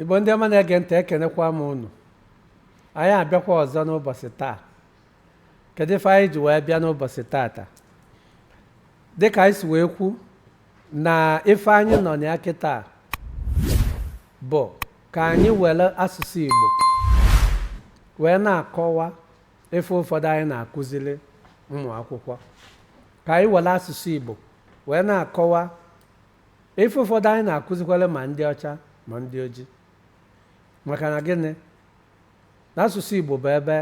igbo ndị ọma na-ege ntị ekenekwa m unu anyị abịakwa ọzọ n'ụbọsị taa kedu ife anyị ji wee bịa n'ụbọsị taata dịka anyị si wee kwu na ife anyị nọ na ya kịtaa bụ ka anyị were asụsụ igbo wee na-akọwa ife ụfọdụ anyị na-akụziri ụmụ akwụkwọ ka anyị were asụsụ igbo wee na-akọwa Ife ụfọdụ anyị na-akụzikwalụ ma ndị ọcha ma ndị oji maka na gịnị na asụsụ Igbo bụ ebe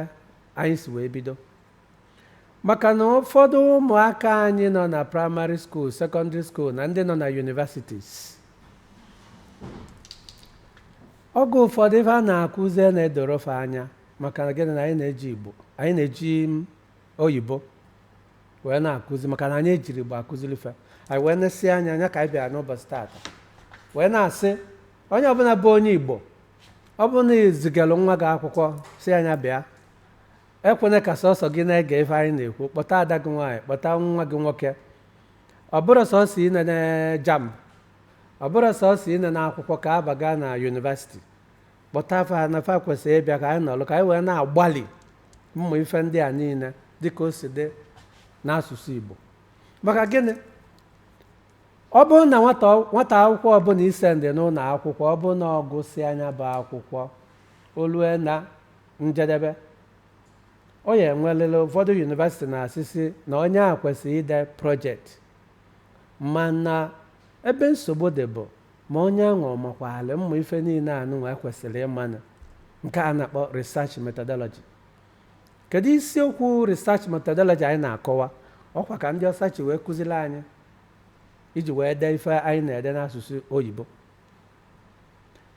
anyị si wee bido maka na ụfọdụ ụmụaka anyị nọ na primary school secondary school na ndị nọ na universities oge ụfọdụ ife a na-akụzi na-edoro fa anya maka na gịnị na anyị na-eji Igbo anyị na-eji oyibo wee na-akụzi maka na anyị ejirọ Igbo akụziri ife anyị wee na-esi anya nya ka anyị bịara n'ụbọsị taata wee na-asị onye ọbụla bụ onye Igbo ọ bụrụ na ị zigalụ nwa gị akwụkwọ sị nya bịa ekwena ka sọsọ gị na-ege ife anyị na-ekwu kpọta ada gị nwaanyị kpọta nwa gị nwoke ọ bụrụ sọsọ ị na-ene JAMB ọ bụrụ sọsọ ị na-ene akwụkwọ ka aba gaa na university kpọta fa na fa kwesịrị ịbịa ka anyị nọrọ ka anyị wee na-agbalị ịmụ ife ndị a niile dịka o si dị n'asụsụ Igbo maka gịnị ọ bụrụ na nwata nwata akwụkwọ ọbụla i sendị n'ụlọ akwụkwọ ọ bụrụ na ọ gụsịa nya bụ akwụkwọ o lue na njedebe ọ ya-enwelịlị ụfọdụ university na-asị sị na onye a kwesịrị ide project mana ebe nsogbu dị bụ Ma onye anwa ọ makwaalụ mma ife niile anụnwa o kwesịrị ịma na nke a na-akpọ research methodology. Kedụ isiokwu research methodology anyị na-akọwa? Ọ kwa ka ndị ọcha si wee kụziri anyị iji wee dee ife anyị na-ede n'asụsụ oyibo.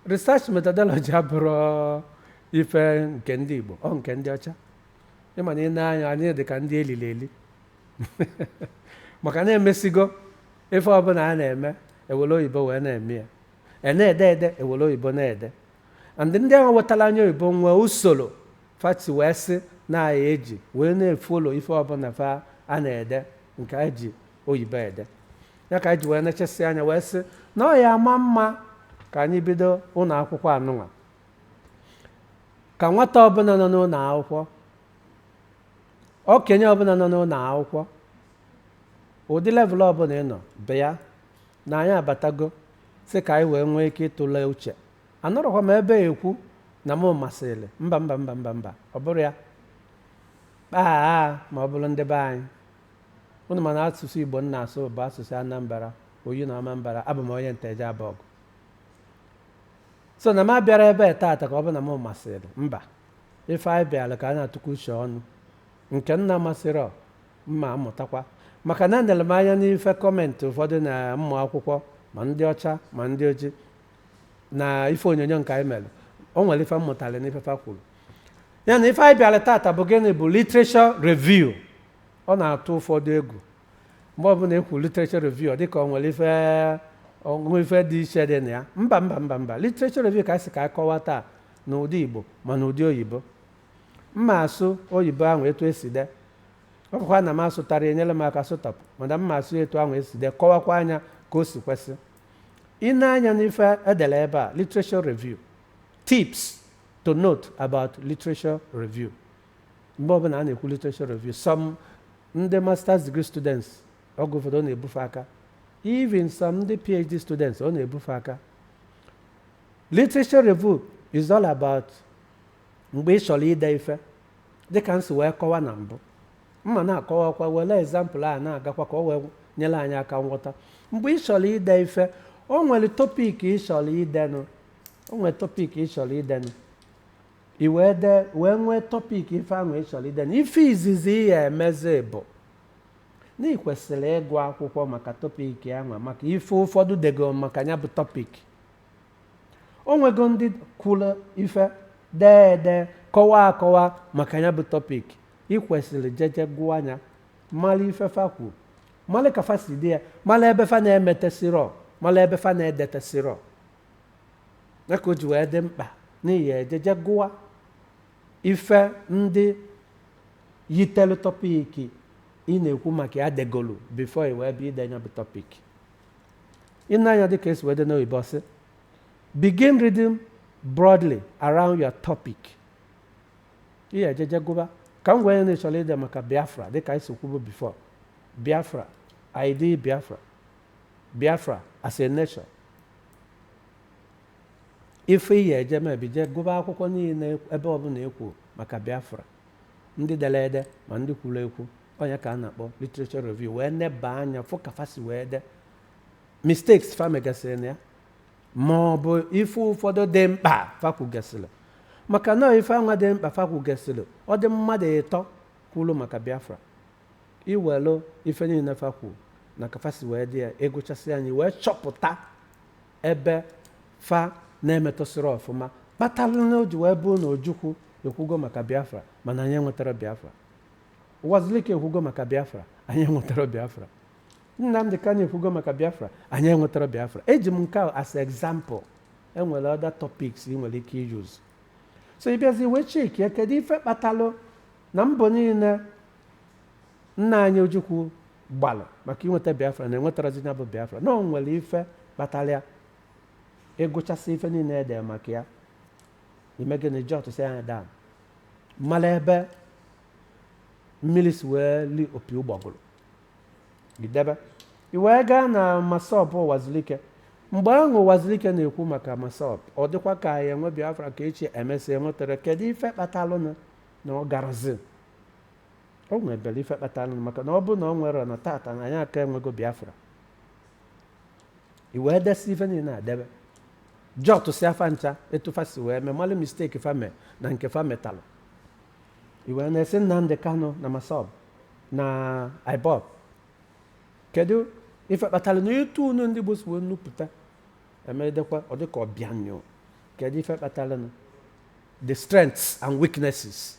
Research methodology abụrọ ife nke ndị Igbo, ọ nke ndị ọcha. Ị ma na anyị dị ka ndị e liri eli maka na emesigo Ife ọbụla a na-eme, ewere oyibo wee na-eme ya. A na-ede ede, ewere oyibo na-ede. And ndị ahụ wetara anyị oyibo nwee usoro fa si wee sị na a ya-eji wee na-efolo ife ọbụla fa a na-ede nke anyị ji oyibo ede. Ya ka anyị ji wee nechasị anya wee sị na ọ ya ama mma ka anyị bido ụlọ akwụkwọ anụnwa ka nwata ọbụla nọ n'ụlọ akwụkwọ Okenye ọbụla nọ n'ụlọ akwụkwọ, ụdị level ọbụla ị nọ, bịa na anyị abatago sị ka anyị wee nwee ike ịtụle uche. Anọrọkwa m ebe a ekwu na mụ masịrị. Mba mba mba mba mba, ọ bụrọ ya. Kpaa ma ọ bụrụ ndị be anyị. Unu ma na asụsụ Igbo m na-asụ bụ asụsụ Anambra, Oyi na Ọmambara, abụ m onye Nteje Abọgụ. So na m abịarọ ebe a taata ka ọ bụ na mụ masịrị. Mba, ife anyị bịara ka a na-atụkwa uche ọnụ nke m na-amasịrọ mma amụtakwa maka na enere m anya n'ife comment ụfọdụ na ụmụ akwụkwọ ma ndị ọcha ma ndị oji na ife onyonyo nke anyị mere o nwere ife m mụtara n'ife fa kwuru ya na ife anyị bịara tata bụ gịnị bụ literature review ọ na-atụ ụfọdụ egwu mgbe ọbụla ekwu literature review dịka ọ nwere ife ọṅụṅụ ife dị iche dị na ya mba mba mba mba literature review ka a sị ka a kọwa taa n'ụdị Igbo ma n'ụdị oyibo mma asụ oyibo ahụ etu esi dee ọ bụkwa na m asụtarọ e nyere m aka sụtapụ mana mma asụ etu ahụ esi dee kọwakwa ya ka o si kwesị ine anya n'ife edere ebe a literature review tips to note about literature review mgbe ọbụla a na-ekwu literature review some ndị masters degree students oge ụfọdụ ọ na-ebufe aka even some ndị phd students ọ na-ebufe aka Literature review is all about mgbe ị chọrọ ide ife dịka m si wee kọwa na mbụ mma na-akọwakwa were example a na-agakwa ka o wee nyere anyị aka nghọta mgbe ị chọrọ ide ife o nwere topic ị chọrọ idenụ o nwere topic ị chọrọ idenụ i wee dee wee nwee topic ife ahụ ị chọrọ idenụ ife izizi ị ya emezi bụ na ị kwesịrị ịgụ akwụkwọ maka topic ahụ maka ife ụfọdụ dego maka ya bụ topic o nwego ndị kwuru ife dee ede kọwaa akọwa maka ya bụ topic ị kwesịrị jeje gụọ ya mara ife fa kwu mara ka fa si dee ya mara ebe fa na-emetesirọ mara ebe fa na-edetesirọ ya ka o ji wee dị mkpa na ị ya ejeje gụwa ife ndị yitelu topic ị na-ekwu maka ya degolu before i wee bịa ide ya bụ topic Ị nee anya dịka esi wee dee n'oyibo ọ sị, Begin reading broadly around your topic. Ị ya ejeje gụba ka m were ya na ị chọrọ ide maka Biafra dịka e si kwubu before. Biafra, idea Biafra. Biafra as a nation. Ife ị ya eje me bụ i jee gụba akwụkwọ niile ebe ọbụla e kwuru maka Biafra. Ndị dere ede ma ndị kwuru ekwu ọ nya ka a na-akpọ literature review wee neba anya fụ ka fa si wee de mistakes fa megasịrị na ya ma ọ bụ ife ụfọdụ dị mkpa fa kwugasịrị maka na ife anwa dị mkpa fa kwugasịrị ọ dị mmadụ ịtọ kwuru maka biafra i welu ife niile fa kwu na ka fa si wee dee ya ị gụchasịa nya ị wee chọpụta ebe fa na-emetụsịrị ọfụma kpatara na o ji wee bụrụ na ojukwu ekwugo maka biafra mana anyị enwetara biafra Wazulike ekwugo maka Biafra, anyị enwetara Biafra. Nnamdi Kanu ekwugo maka Biafra, anyị enwetara Biafra. Eji m nke a as example. E nwere other topics ị nwere ike use. So ị bịazi wee cheki ya, kedu ife kpatalụ na mbọ niile nna anyị Ojukwu gbalụ maka inweta Biafra na enwetarazi ya bụ Biafra na o nwere ife kpatara ya ị gụchasịa ife niile e de maka ya i mee gịnị jotsịa nya down mara ebe mmiri si wee li opi ụgbọgụrụ i debe i wee gaa na massob ụwazulike mgbe ahụ ụwazulike na-ekwu maka massob ọ dịkwa ka anyị enwe biafra ka echi e mesịa enwetara kedu ife kpatalụnụ na ọ garazi o nwebere ife kpatalụnụ maka na ọ bụ na ọ nwere na tata na anyị aka enwego biafra i wee desịa ife niile a debe jotsịa fa ncha etu fa si wee mee malụ mistake fa mee na nke fa metalụ i wee na-esi Nnamdi Kanu na MASSOB na IPOB kedu ife kpatara na etu unu ndị Igbo si wee nupụta e medekwa ọ dịka ọ bịa anyụ kedu ife kpatara na the strengths and weaknesses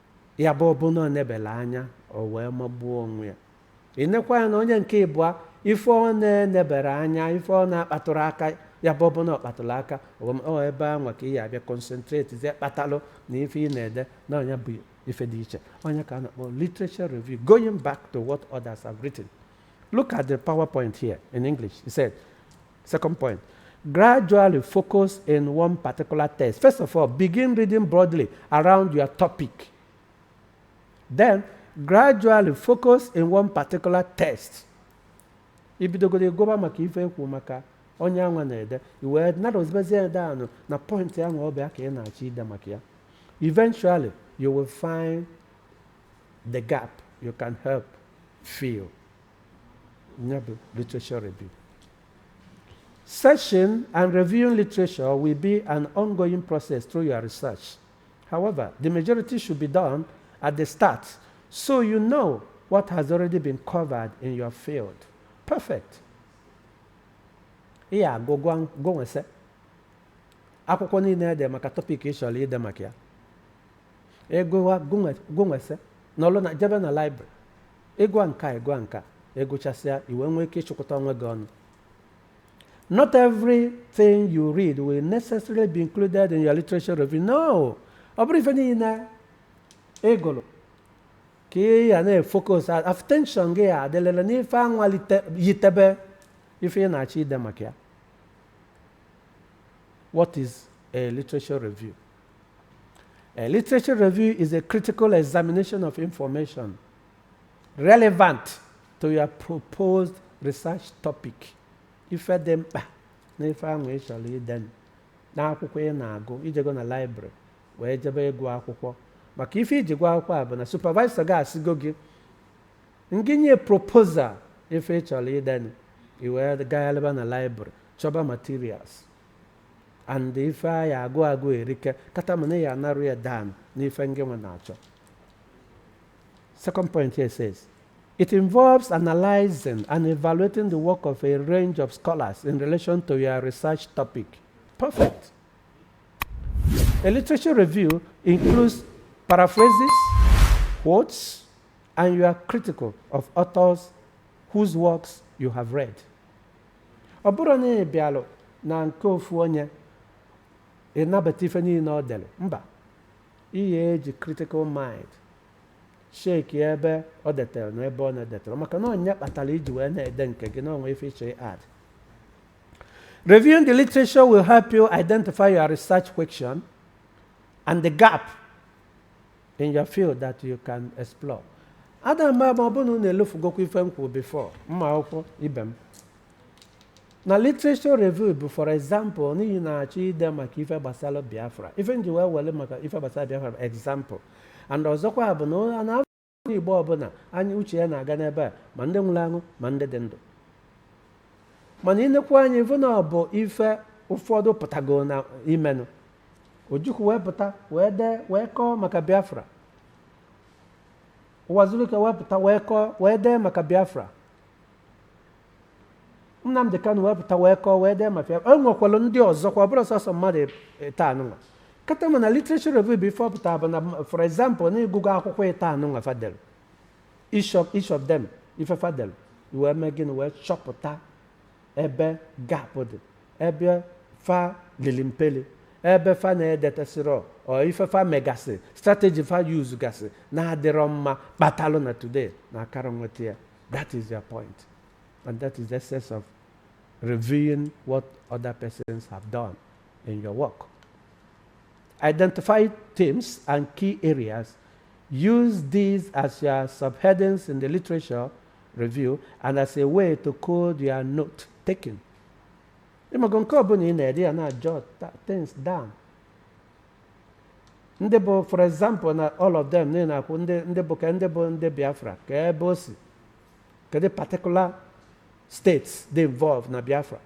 Ya bụ ọ bụ na ọ nebela anya, o wee magbuo onwe ya. Ị nekwa ya na onye nke ịbụa, ife ọ na-enebere anya, ife ọ na-akpatụrụ aka, ya bụ ọ bụ na ọ kpatụrụ aka, o wee ma- ọ ebe anwa ka ị ya-abịa concentratezie kpatalụ na ife ị na-ede na ọ nya bụ ife dị iche. Ọ nya ka a na-akpọ literature review, going back to what others have written. Look at the PowerPoint here in English. He said, Second point, gradually focus in one particular text. First of all, begin reading broadly around your topic. Then, gradually focus in one particular text. I bidogodu ịgụba maka ife e kwu maka onye anwa na-ede i wee narrowzibezie ya down na point ahụ ọ bụ ya ka ị na-achọ ide maka ya eventually you will find the gap you can help fill ya bụ literature review Searching and reviewing literature will be an ongoing process through your research. However, the majority should be done at the start so you know what has already been covered in your field. Perfect. Ị ya-agụ agụ gụnwese akwụkwọ niile ede maka topic ị chọrọ ide maka ya ịgụwa gụnwese n'ọlụ na jebe na library ị gụa nke a ị gụa nke a ị gụchasịa i wee nwee ike ịchịkọta onwe gị ọnụ not everything you read will necessarily be included in your literature review no ọ bụrọ ife niile ị gụrụ ka ị ya na-efocus attention gị ya-adịlịlị n'ife anwa yitebe ife ị na-achọ ide maka ya what is a literature review A literature review is a critical examination of information relevant to your proposed research topic. Ife dị mkpa na ife ahụ ị chọrọ ide n'akwụkwọ ị na-agụ i jego na library wee jebe ịgụ akwụkwọ maka ife i ji gụọ akwụkwọ a bụ na supervisor gị asịgo gị ngị nye proposal ife ị chọrọ ide i wee gagharịba na library chọba materials and ife anyị agụ agụ erike kata mana ya anarụ ya dan n'ife ngị nwa na-achọ second point here says it involves analyzing and evaluating the work of a range of scholars in relation to your research topic perfect a literature review includes paraphrases quotes and you are critical of authors whose works you have read Ọ bụrọ na ị bịalụ na nke ofu onye, ị nabata ife niile o delu, mba, ị ya eji critical mind checkie ebe o detere na ebe ọ na-edeterọ maka na ọ nya kpatara i ji wee na-ede nke gị na o nwe ife ị chọ add. Reviewing the literature will help you identify your research question and the gap in your field that you can explore. Ada m ama ma ọ bụrụ na unu elofugokwa ife m kwuru before ụmụ akwụkwọ ibe m. Na literature review bụ for example na ị na-achọ ide maka ife gbasara Biafra. Ife m ji wee were maka ife gbasara Biafra bụ example. And ọzọkwa bụ na ọ na onye Igbo ọbụla anyị uche ya na-aga n'ebe a ma ndị nwụrụ anwụ ma ndị dị ndụ. Mana i nekwa anya ị fụ na ọ bụ ife ụfọdụ pụtago na imenụ Ojukwu wee pụta wee dee wee kọọ maka Biafra Uwazuruike wee pụta wee kọọ wee dee maka Biafra Nnamdị Kanụ wee pụta wee kọọ wee dee maka Biafra e nwekwara ndị ọzọkwa ọ bụrọ sọsọ mmadụ ịtọ a nụnwa kata mana literature review bụ ife ọ pụtara bụ na for example na ị gụgo akwụkwọ ịtọ a nụnwa fa delu each of them ife fa delu wee mee gịnị wee chọpụta ebe gap dị ebe fa lili mpeli ebe fa na-edetasịrọ or ife fa megasị strategy fa use gasị na-adịrọ mma kpatalụ na today na akarọ nweta ya that is their point and that is the essence of reviewing what other persons have done in your work identify themes and key areas use these as your subheadings in the literature review and as a way to code your note taking ịmago nke ọbụla ị na-ede ya na jot things down ndị bụ for example na all of them niile na-akwụ ndị ndị bụ ka ndị bụ ndị biafra ka ebe o si kedu particular states dị involved na biafra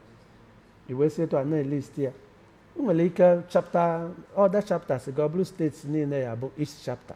i wee si etu a na-elist ya ị nwere ike chapta other chapters ga-abụrụ states niile ya bụ each chapter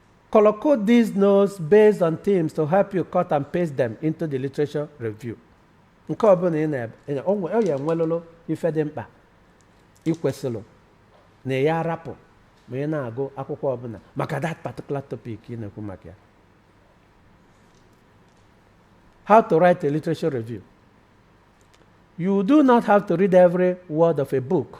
Color code these notes based on themes to help you cut and paste them into the literature review. Nke ọ bụla ị na-ede o nwe- o ya enwelụlụ ife dị mkpa ị kwesịrọ na ị ya-arapụ ma ị na-agụ akwụkwọ ọbụla maka that particular topic ị na-ekwu maka ya. How to write a literature review. You do not have to read every word of a book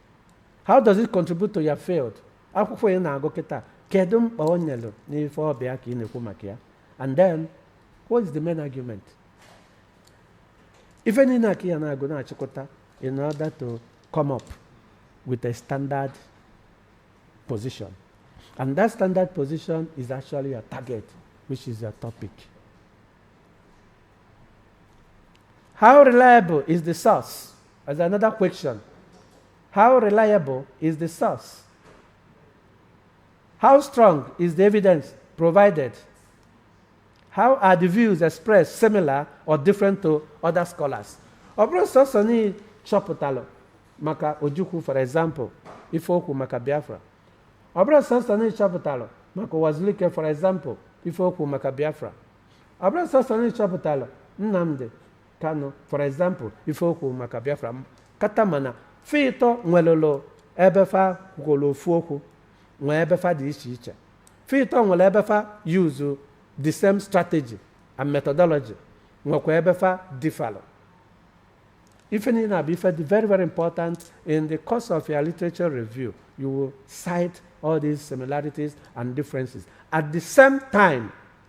How does it contribute to your field? Akwụkwọ ị na-agụ kịta kedu mkpa o nyere n'ife ọ bụ ya ka ị na-ekwu maka ya? And then what is the main argument? Ife niile a ka ị ya na-agụ na-achịkọta in order to come up with a standard position. And that standard position is actually your target, which is your topic. How reliable is the source? As another question, how reliable is the source? How strong is the evidence provided? How are the views expressed similar or different to other scholars? Ọ bụrụ source niile chọpụtalụ maka Ojukwu for example, ife o kwu maka Biafra. Ọ bụrụ source niile chọpụtalụ maka Uwazuruike for example, ife o kwu maka Biafra. Ọ bụrụ source niile chọpụtalụ Nnamdi Kanu for example ife o kwu maka Biafra m kata mana fa ịtọ nwelụlụ ebe fa kwukọrọ ofu okwu nwee ebe fa dị iche iche fa ịtọ nwere ebe fa use the same strategy and methodology nwekwa ebe fa differlụ ife niile a bụ ife dị very very important in the course of your literature review you will cite all these similarities and differences at the same time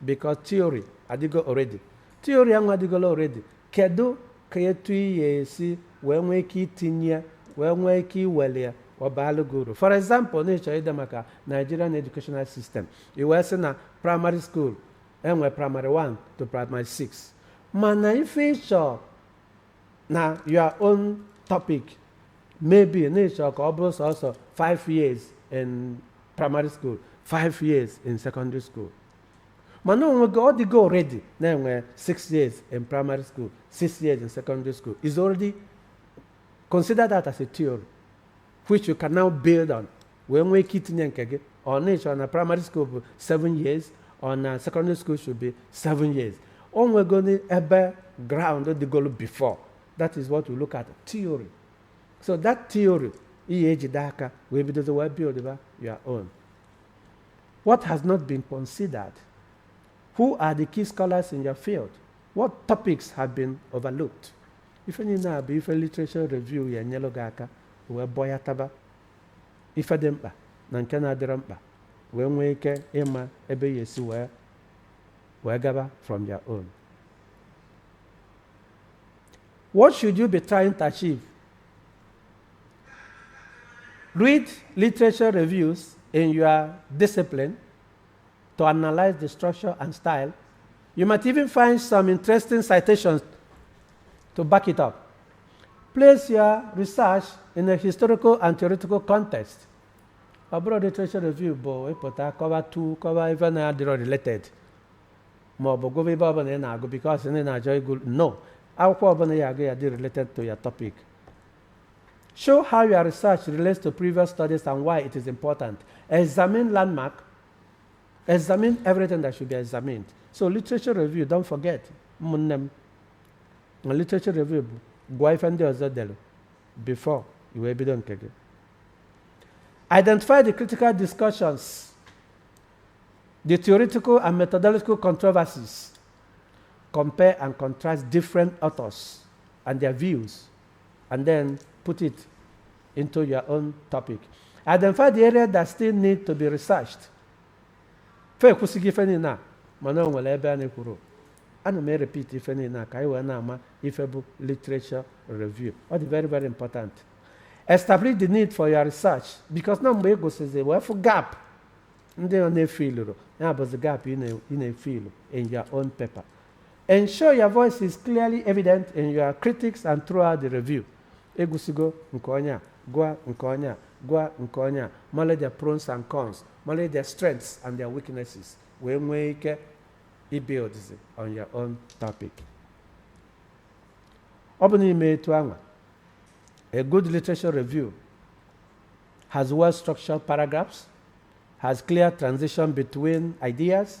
because theory adịgo already theory ahụ adịgolu already kedu ka etu ị ya esi wee nwee ike itinye ya wee nwee ike iwelu ya ọ baalụ gị uru for example na ị chọrọ ide maka nigerian educational system i wee sị na primary school enwe primary 1 to primary 6 mana ife ị chọ na your own topic maybe na ị chọ ka ọ bụrụ sọsọ 5 years in primary school 5 years in secondary school mana ọ dịgo already na-enwe 6 years in primary school 6 years in secondary school is already consider that as a theory which you can now build on wee nwee ike itinye nke gị ọ na ị chọrọ na primary school bụ 7 years ọ na secondary school should be 7 years o nwegoni ebe ground dịgolu before that is what we look at theory so that theory ị ya ejide aka wee bido wee build ba your own what has not been considered who are the key scholars in your field what topics have been overlooked ife niile a bụ ife literature review ya enyelụ gị aka wee bọ ya taba ife dị mkpa na nke na-adịrọ mkpa wee nwee ike ịma ebe ị ya esi wee wee gaba from your own what should you be trying to achieve read literature reviews in your discipline to analyze the structure and style. You might even find some interesting citations to back it up. Place your research in a historical and theoretical context. ọ bụrọ literature review bụ ị pụta kọwa tu kọwa ife na-adịrọ related ma ọ bụ gụba ife ọbụla ị na-agụ because na ị na-achọ ịgụ no akwụkwọ ọbụla ị ya agụ ya adị related to your topic show how your research relates to previous studies and why it is important examine landmark Examine everything that should be examined. So literature review, don't forget, ụmụnne m. Na literature review bụ gụọ ife ndị ọzọ delu before i wee bido nke gị. Identify the critical discussions, the theoretical and methodological controversies. Compare and contrast different authors and their views and then put it into your own topic. Identify the area that still need to be researched. Fa ekwusịgo ife niile a mana o nwere ebe a na-ekwurọ. Ana m e-repeat ife niile a ka anyị wee na-ama ife bụ literature review. Ọ dị very very important. Establish the need for your research because na mgbe ị gụsịzi wee fụ gap ndị a na-efilurọ ya bụzi gap ị na- ị na-efilu in your own paper. Ensure your voice is clearly evident in your critiques and throughout the review. Ị gụsịgo nke onye a, gụa nke onye a, gụa nke onye a, malụ their pros and cons, malụ their strengths and their weaknesses, wee nwee ike ibuildzi on your own topic. Ọ bụ na i mee etu anwa, a good literature review has well-structured paragraphs, has clear transition between ideas,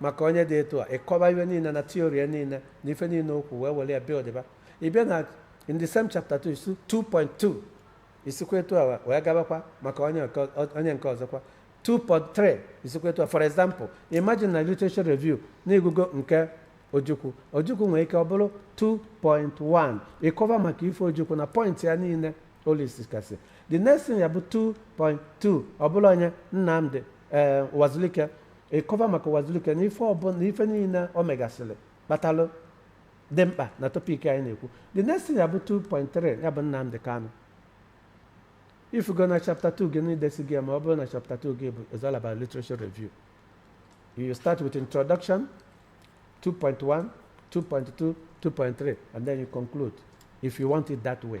maka onye dị etu a ị kọba ife niine na theory ya niine na ife niine o kwuu wee were ya buildịba ị bịa na in the same chapter 2 is 2.2 i sikwa etu a wee kọbakwa maka onye nke ọ- onye nke ọzọkwa 2.3 i sikwa etu a for example imagine na literature review na ị gụgo nke Ojukwu Ojukwu nwere ike ọ bụrụ 2.1 ị kọba maka ife Ojukwu na point ya niine Olise kasị the next thing ya bụ 2.2 ọ bụlụ onye Nnamdi ee Uwazuruike ị kọva maka Uwazuruike na ife ọbụla na ife niine o megasịlị kpatalụ dị mkpa na topic anyị na-ekwu the next thing ya bụ 2.3 ya bụ Nnamdi Kanu ị fụgo na chapter 2 gị na i desigo ya ma ọ bụrụ na chapter 2 gị bụ is all about literature review you start with introduction 2.1 2.2 2.3 and then you conclude if you want it that way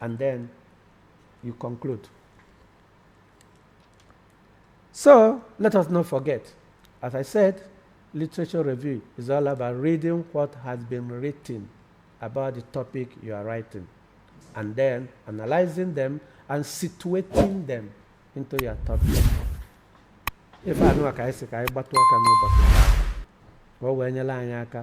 and then you conclude. So let us not forget, as I said, literature review is all about reading what has been written about the topic you are writing and then analyzing them and situating them into your topic. Ife anwa ka anyị sị ka anyị kpatụ aka n'ụbọchị taa, ka o wee nyelụ anyị aka